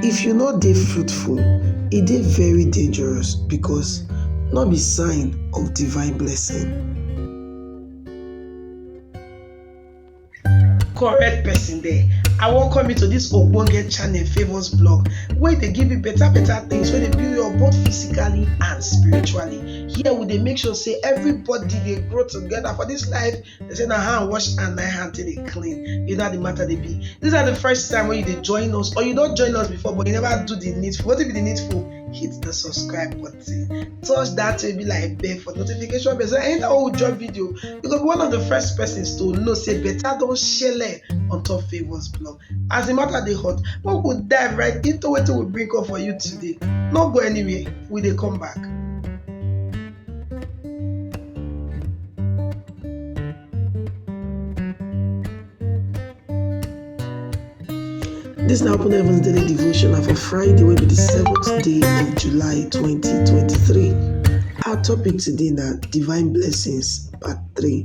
If you no dey fruitful, e dey very dangerous because no be sign of divine blessing. Correct person there. I welcome you to this ogbonge channel Favours Blog wey dey give you better better things wey dey build you up both physically and spiritually. Here we dey make sure say everybody dey grow together for this life They say na hand wash and na hand till they clean. You know how the matter they be. These are the first time when you they join us or you don't join us before but you never do the needful. What if you the needful? Hit the subscribe button. Touch that to be like bell for notification bell. So anytime we drop video, you go be one of the first persons to know say better don't share on top favors blog. As the matter dey hot, make we dive right into wetin we bring come for you today. No go anywhere, we dey come back. This na Open Heavens Daily Devotion na for Friday wey be the seventh day of July 2023. Our topic today na divine blessings part 3.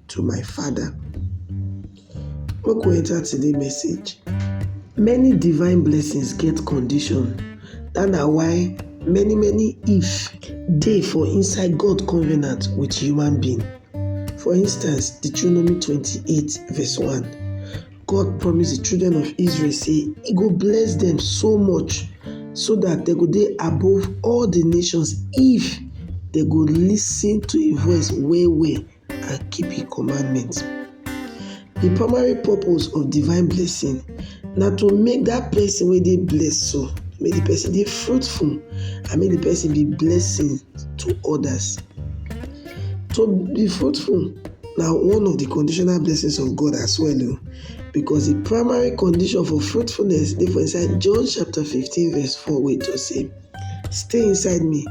to my father. Make we enter today message. Many divine blessings get condition dat na why many many if dey for inside God covenant with human being. For instance, Deuteronomy twenty-eight verse one, God promise the children of Israel say e go bless dem so much so dat dem go dey above all the nations if dem go lis ten to im voice well well and keep im commandment. Di primary purpose of divine blessing na to make dat pesin wey dey blessed so make di pesin dey fruitful and make di pesin be blessing to odas. To be fruitful na one of di conditional blessings of God as well o because di primary condition for fruitfulness dey for inside John chapter fifteen verse four wey tok sey stay inside me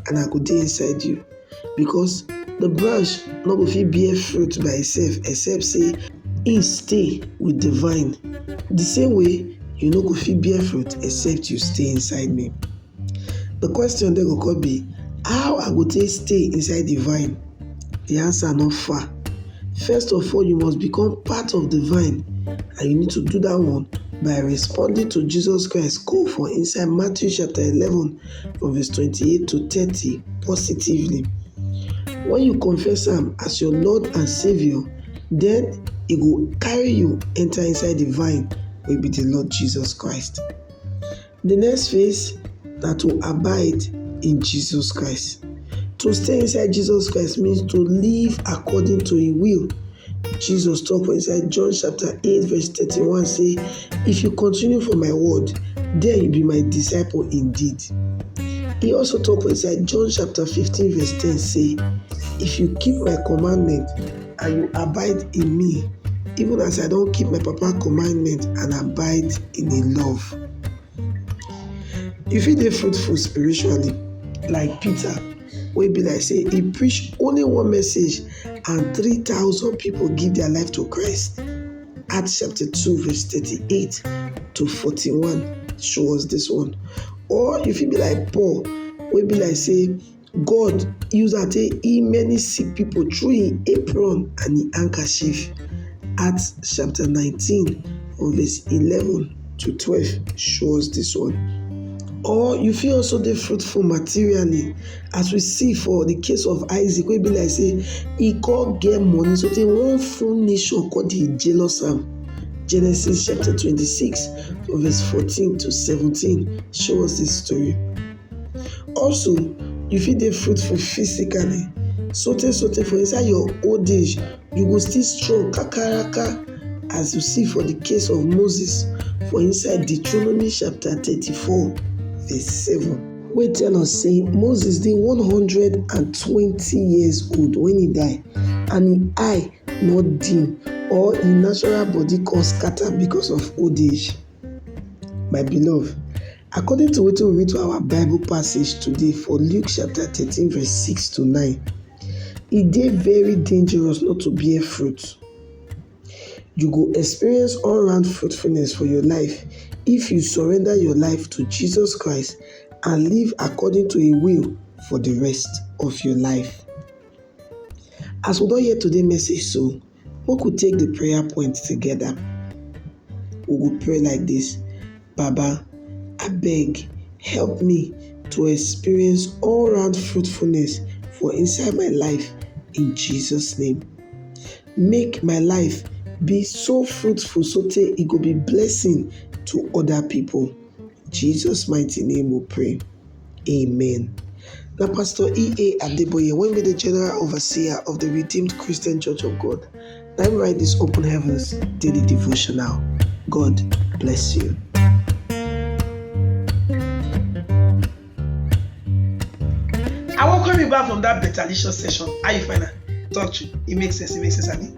and I go dey inside you. Because the branch no go fit bear fruit by itself except say e stay with the vine. The same way, you no go fit bear fruit except you stay inside me. The question then go come be, how I go take stay inside the vine? The answer not far. First of all, you must become part of the vine, and you need to do that one by responding to Jesus Christ call for inside Matthew chapter 11 from verse 28 to 30 positively. When you confess am as your Lord and Savior, then e go carry you enter inside the vine wey be the Lord Jesus Christ. The next phase na to abide in Jesus Christ. To stay inside Jesus Christ means to live according to im will Jesus talk for inside John chapter 8 verse 31 say, If you continue for my word, then you be my disciple indeed. He also talk for inside John chapter 15 verse 10 say, If you keep my commandment and you abide in me, even as I don't keep my papa commandment and abide in his love. If you dey fruitful spiritually, like Peter, wey be like say e preach only one message and three thousand people give their life to Christ. Acts chapter 2 verse 38 to 41 show us this one. Or you fit be like Paul wey be like say God use am take heal many sick people through him apron and him handkerchief. Acts chapter 19 verse 11. to twelve show us this one or you fit also dey fruitful materially as we see for the case of Isaac wey be like say he come get money so tey one full nation come dey jealous am Genesis chapter twenty-six from verse fourteen to seventeen show us this story also you fit dey fruitful physically sotey sotey for inside your old age You go still strong kakaraka as you see for the case of Moses for inside Deuteronomy chapter 34 verse 7 wey tell us say Moses dey 120 years old when he die and him eye no dim or him natural body come scatter because of old age. My beloved, according to wetin we read for our Bible passage today for Luke chapter thirteen verse six to nine, e dey very dangerous not to bear fruit. You go experience all round fruitfulness for your life if you surrender your life to Jesus Christ and live according to im will for the rest of your life. As we don hear today message so, Make we take the prayer point together. We go pray like this, Baba, abeg help me to experience all round fruitfulness for inside my life in Jesus name. Make my life be so fruitful so tey e go be blessing to other people. Jesus mighty name we pray. Amen. Na Pastor E.A. Adeboye wey be the General Overseer of the Redeemed Christian Church of God na im write this Open Heavens daily devotional. God bless you. I welcome you back from that better licious session. How you find am? Talk true. It makes sense. It makes sense, Abi.